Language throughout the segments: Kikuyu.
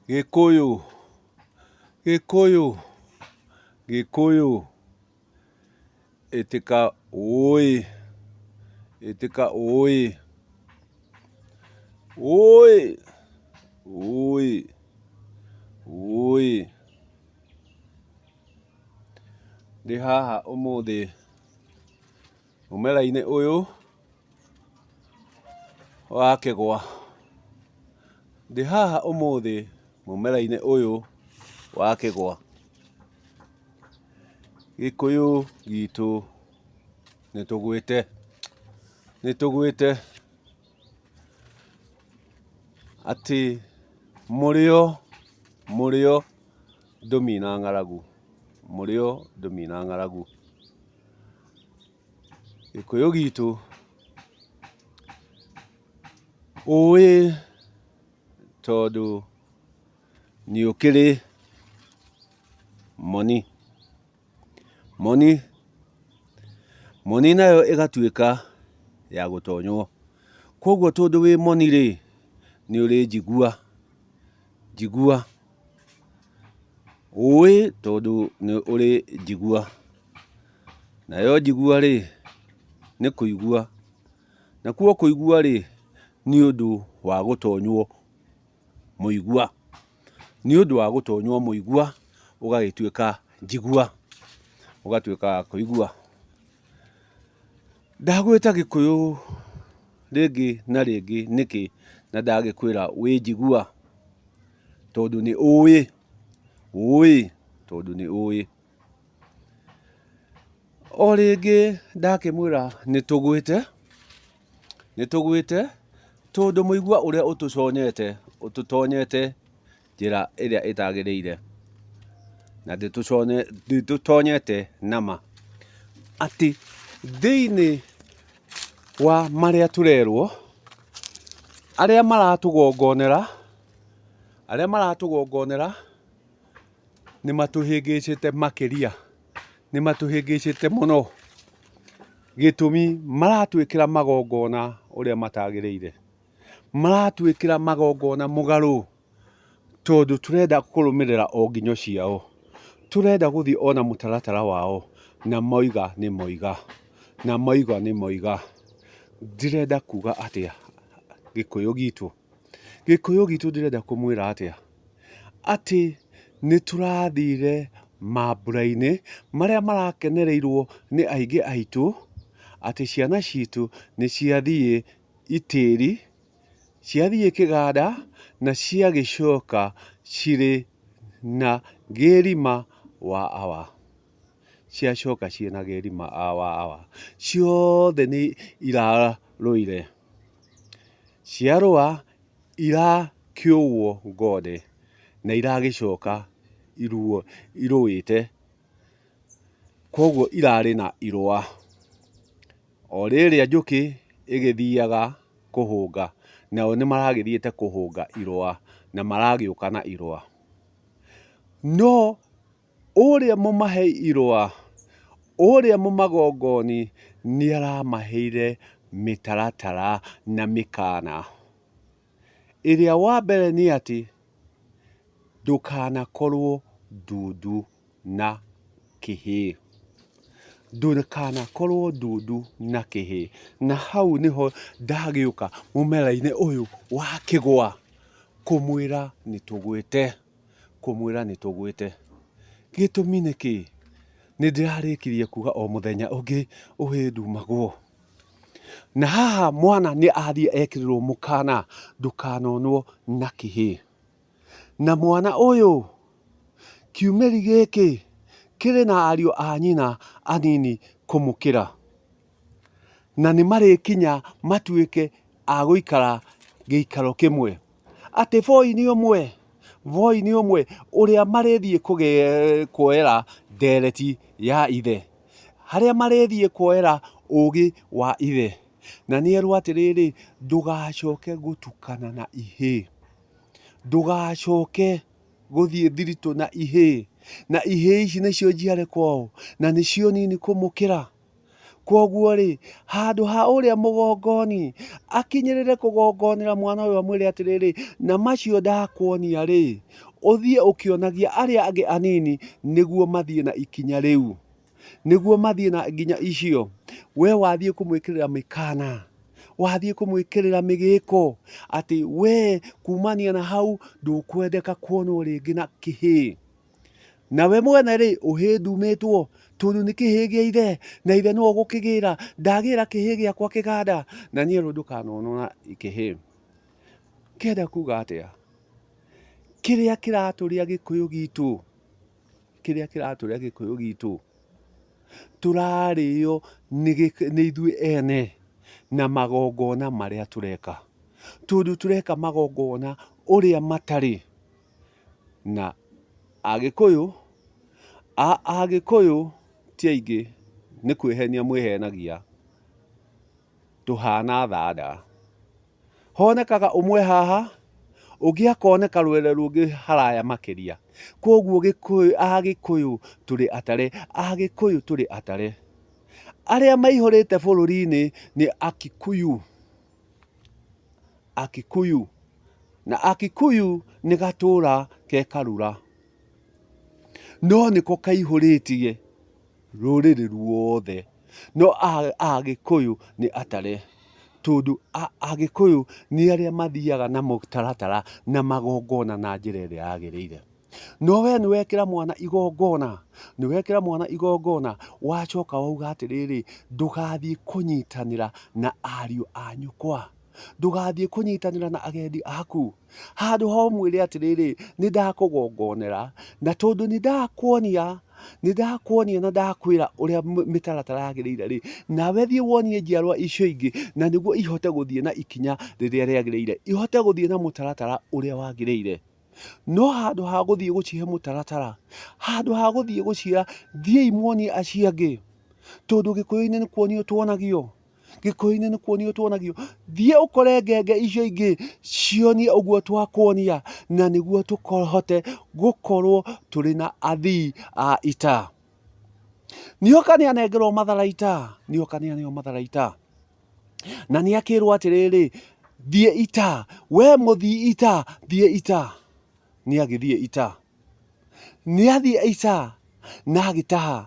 Gĩkũyũ, gĩkũyũ, gĩkũyũ, ĩtĩka ũĩ, ĩtĩka ũĩ, ũĩ, ũĩ, ũĩ. Ndĩ haha ũmũthĩ. Mũmera-inĩ ũyũ wa kĩgwa. Ndĩ haha ũmũthĩ mũmera-inĩ ũyũ wa kĩgwa. Gĩkũyũ gitũ nĩ tũgwĩte, nĩ tũgwĩte atĩ mũrĩo, mũrĩo ndũmina ng'aragu, mũrĩo ndũmina ng'aragu. Gĩkũyũ gitũ, ũĩ tondũ nĩ ũkĩrĩ moni, moni, moni nayo ĩgatuĩka ya gũtonywo. Koguo tondũ wĩ moni rĩ, nĩ ũrĩ njigua, njigua. Ũĩ tondũ nĩ ũrĩ njigua, nayo njigua rĩ, nĩ kũigua, nakuo kũigua rĩ, nĩ ũndũ wa gũtonywo mũigua, nĩ ũndũ wa gũtonywo mũigua ũgagĩtuĩka njigua, ũgatuĩka wa kũigua. Ndagwĩta gĩkũyũ rĩngĩ na rĩngĩ nĩkĩ na ndagĩkwĩra wĩ njigua? tondũ nĩ ũĩ ũĩ tondũ nĩ ũĩ. O rĩngĩ ndakĩmwĩra nĩ tũgwĩte nĩ tũgwĩte tondũ mũigua ũrĩa ũtũconyete ũtũtonyete njĩra ĩrĩa ĩtagĩrĩire na ndĩtũtonyete na ma. Atĩ thĩinĩ wa marĩa tũrerwo arĩa maratũgongonera... Arĩa maratũgongonera nĩ matũhĩngĩcĩte makĩria, nĩ matũhĩngĩcĩte mũno, gĩtũmi maratwĩkĩra magongona ũrĩa matagĩrĩire, maratwĩkĩra magongona mũgarũ, tondũ tũrenda kũrũmĩrĩra o nginyo ciao, tũrenda gũthiĩ o na mũtaratara wao, na mauga nĩ mauga, na mauga nĩ mauga. Ndĩrenda kuga atĩa, Gĩkũyũ gitũ? Gĩkũyũ gitũ ndĩrenda kũmwĩra atĩa? Atĩ nĩ tũrathire mambura-inĩ marĩa marakenereirwo nĩ aingĩ aitũ, atĩ ciana citũ nĩ ciathiĩ itĩri, ciathiĩ kĩganda na ciagĩcoka cirĩ na gĩthima wa awa. ciacoka ciĩ na geri ma awa awa. Ciothe nĩ irarũire. Ciarũa irakĩũwwo ngothe na iragĩcoka iruo irũĩte. Kwoguo irarĩ na irũa. O rĩrĩa njũkĩ ĩgĩthiaga kũhũnga, nao nĩ maragĩthiĩte kũhũnga irũa na maragĩũka na irũa. No... Ũrĩa mũmahe-irũa, ũrĩa mũmagongoni, nĩaramaheire mĩtaratara na mĩkaana. Ĩrĩa wa mbere nĩ atĩ, ndũkanakorwo ndundu na kĩhĩ. Ndũkanakorwo ndundu na kĩhĩ. Na hau nĩho ndagĩũka mũmera-inĩ ũyũ wa kĩgwa kũmwĩra nĩtũgwĩte. kũmwĩra nĩ tũgwĩte. Gĩtũmi nĩ kĩĩ? Nĩ ndĩrarĩkirie kuga o mũthenya ũngĩ ũhĩ ndumagwo. Na haha mwana nĩ athiĩ ekĩrĩrwo mũkana ndũkanonwo na kĩhĩ. Na mwana ũyũ kiumĩri gĩkĩ kĩrĩ na ariũ a nyina anini kũmũkĩra. na nĩ marĩkinya matuĩke a gũikara gĩikaro kĩmwe. Atĩ Voi nĩ ũmwe, Voi nĩ ũmwe ũrĩa marĩthiĩ kuoera ndereti ya Ithe, harĩa marĩthiĩ kuoera ũũgĩ wa Ithe. Na nĩ erwo atĩrĩrĩ, ndũgacoke gũtukana na ihĩĩ, ndũgacoke gũthiĩ thiritũ na ihĩĩ, na ihĩĩ ici nĩcio njiarĩ kwao, na nĩcio nini kũmũkĩra. Kwoguo-rĩ, handũ ha ũrĩa mũgongoni akinyĩrĩre kũgongonera mwana ũyũ amwĩre atĩrĩrĩ, na macio ndakuonia-rĩ, ũthiĩ ũkĩonagia arĩa angĩ anini nĩguo mathiĩ na ikinya rĩu, nĩguo mathiĩ na nginya icio, we wathiĩ kũmwĩkĩrĩra mĩkana, wathiĩ kũmwĩkĩrĩra mĩgĩko, atĩ we kumania na hau ndũkwendeka kuonwo rĩngĩ na kĩhĩĩ. Nawe mwene-rĩ, ũhĩĩ ndumĩtwo, tondũ nĩ kĩhĩĩ gĩa ithe, na ithe nĩwe ũgũkĩgĩra. Ndagĩra kĩhĩĩ gĩakwa kĩganda, na niĩ rĩu ndũkanonora kĩhĩĩ. Ngĩenda kuga atĩa? Kĩrĩa kĩratũrĩa gĩkũyũ gitũ, kĩrĩa kĩratũrĩa gĩkũyũ gitũ, tũrarĩo nĩ ithuĩ ene na magongona marĩa tũreka. Tondũ tũreka magongona ũrĩa matarĩ. na Agĩkũyũ, Agĩkũyũ ti aingĩ nĩ kwĩhenia mwĩhenagia, tũhana thanda. Honekaga ũmwe haha, ũngĩ akoneka rwere rũngĩ haraya makĩria. Kwoguo Gĩkũyũ, Agĩkũyũ tũrĩ atare, Agĩkũyũ tũrĩ atare. Arĩa maihũrĩte bũrũri-inĩ nĩ Akikuyu. Akikuyu. Na Akikuyu nĩ gatũra ke Karura. No nĩko kaihũrĩtie rũrĩrĩ ruothe. No Agĩkũyũ nĩ atare. Tondũ Agĩkũyũ nĩ arĩa mathiaga na mũtaratara na magongona na njĩra ĩrĩa yagĩrĩire. No wee nĩwekĩra mwana igongona, nĩwekĩra mwana igongona, wacoka wauga atĩrĩrĩ, ndũgathiĩ kũnyitanĩra na ariũ a nyũkwa ndũgathiĩ kũnyitanĩra na agendi aku handũ ha ũmwĩre atĩrĩrĩ nĩ ndakũgongonera na tondũ nĩ ndakuonia nĩ ndakuonia na ndakwĩra ũrĩa m- mĩtaratara yagĩrĩire rĩ nawe thiĩ wonie njiarwa icio ingĩ na nĩguo ihote gũthiĩ na ikinya rĩrĩa rĩagĩrĩire ihote gũthiĩ na mũtaratara ũrĩa wagĩrĩire no handũ ha gũthiĩ gũcihe mũtaratara, handũ ha gũthiĩ gũciĩra thiĩi muonie acio angĩ, tondũ gĩkũyũ-inĩ nĩ kuonio tuonagio, gĩkũyũ-inĩ nĩ kuonio tuonagio, thiĩ ũkore ngenge icio ingĩ cionie ũguo twakuonia, na nĩguo tũhote gũkorwo tũrĩ na athii a ita. Nĩoka nĩanengerwo matharaita, nĩoka nĩaneo matharaita. Na nĩ akĩrwo atĩrĩrĩ, thiĩ ita, we mũthii ita, thiĩ ita. Nĩ agĩthiĩ ita. Nĩ athiĩ ita na agĩtaha,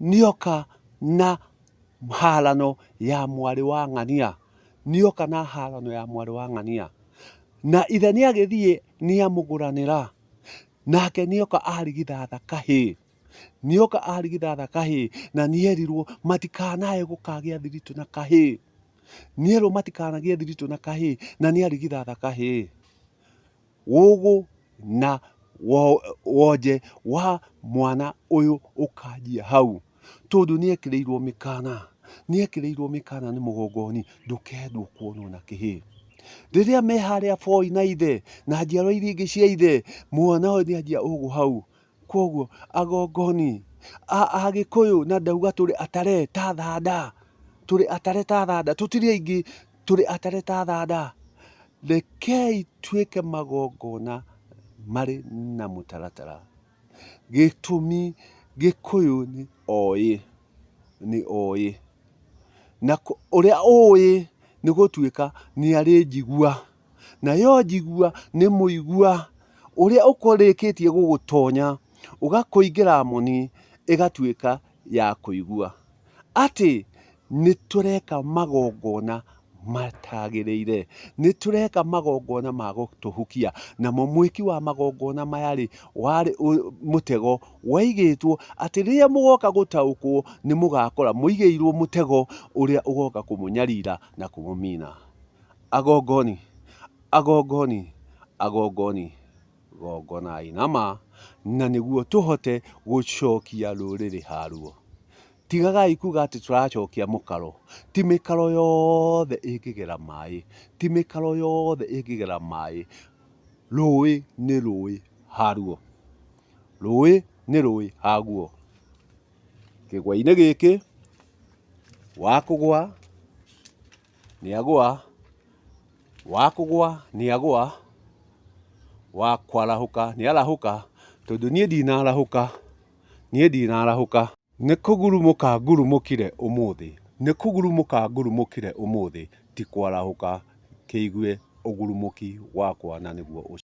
nĩ oka na harano ya mwarĩ wa ng'ania. Nĩ oka na harano ya mwarĩ wa ng'ania. Na ithe nĩ agĩthiĩ nĩ amũgũranĩra, nake nĩ oka arigithatha kahĩĩ. Nĩoka arigithatha kahĩĩ, na nĩerirwo matikanae gũkagĩa thiritũ na kahĩĩ. Nĩerwo matikanagĩe thiritũ na kahĩĩ, na nĩarigithatha kahĩĩ. Ũgũ na wonje wa mwana ũyũ ũkanjia hau, tondũ nĩekĩrĩirwo mĩkana, nĩekĩrĩirwo mĩkana nĩ mũgongoni, ndũkendwo kuonwo na kĩhĩĩ. Rĩrĩa me harĩa boi na ithe, na njiarwa iria ingĩ cia ithe, mwana ũyũ nĩanjia ũgũ hau, Kwoguo agongoni a Agĩkũyũ na ndauga tũrĩ atare ta thanda, tũrĩ atare ta thanda, tũtirĩ aingĩ, tũrĩ atare ta thanda. Rekei tuĩke magongona marĩ na mũtaratara. Gĩtũmi Gĩkũyũ nĩ oĩ, nĩ oĩ. Na ũrĩa ũĩ nĩ gũtuĩka nĩ arĩ njigua. Nayo njigua nĩ mũigua ũrĩa ũkũrĩkĩtie gũgũtonya, ũgakũingĩra moni, ĩgatuĩka ya kũigua. Atĩ nĩ tũreka magongona matagĩrĩire. Nĩ tũreka magongona ma gũtũhukia. Namo mwĩki wa magongona maya rĩ, warĩ mũtego waigĩtwo atĩ rĩrĩa mũgoka gũtaũkwo nĩ mũgakora mũigĩirwo mũtego ũrĩa ũgoka kũmũnyarira na kũmũmina. Agongoni, agongoni, agongoni, gongonai na ma, na nĩguo tũhote gũcokia rũrĩrĩ haruo. Tigagai kuga atĩ tũracokia mũkaro, ti mĩkaro yothe ĩngĩgera maĩ, ti mĩkaro yothe ĩngĩgera maĩ, rũĩ nĩ rũĩ haruo, rũĩ nĩ rũĩ haguo. Kĩgwa-inĩ gĩkĩ, wa kũgwa... Nĩagũa, wa kũgũa nĩagũa, wa kwarahũka nĩarahũka, tondũ niĩ ndinarahũka, niĩ ndinarahũka. Nĩ kũgurumũka ngurumũkire ũmũthĩ, nĩ kũgurumũka ngurumũkire ũmũthĩ, ti kwarahũka, kĩigue ũgurumũki wakwa na nĩguo ũcooke.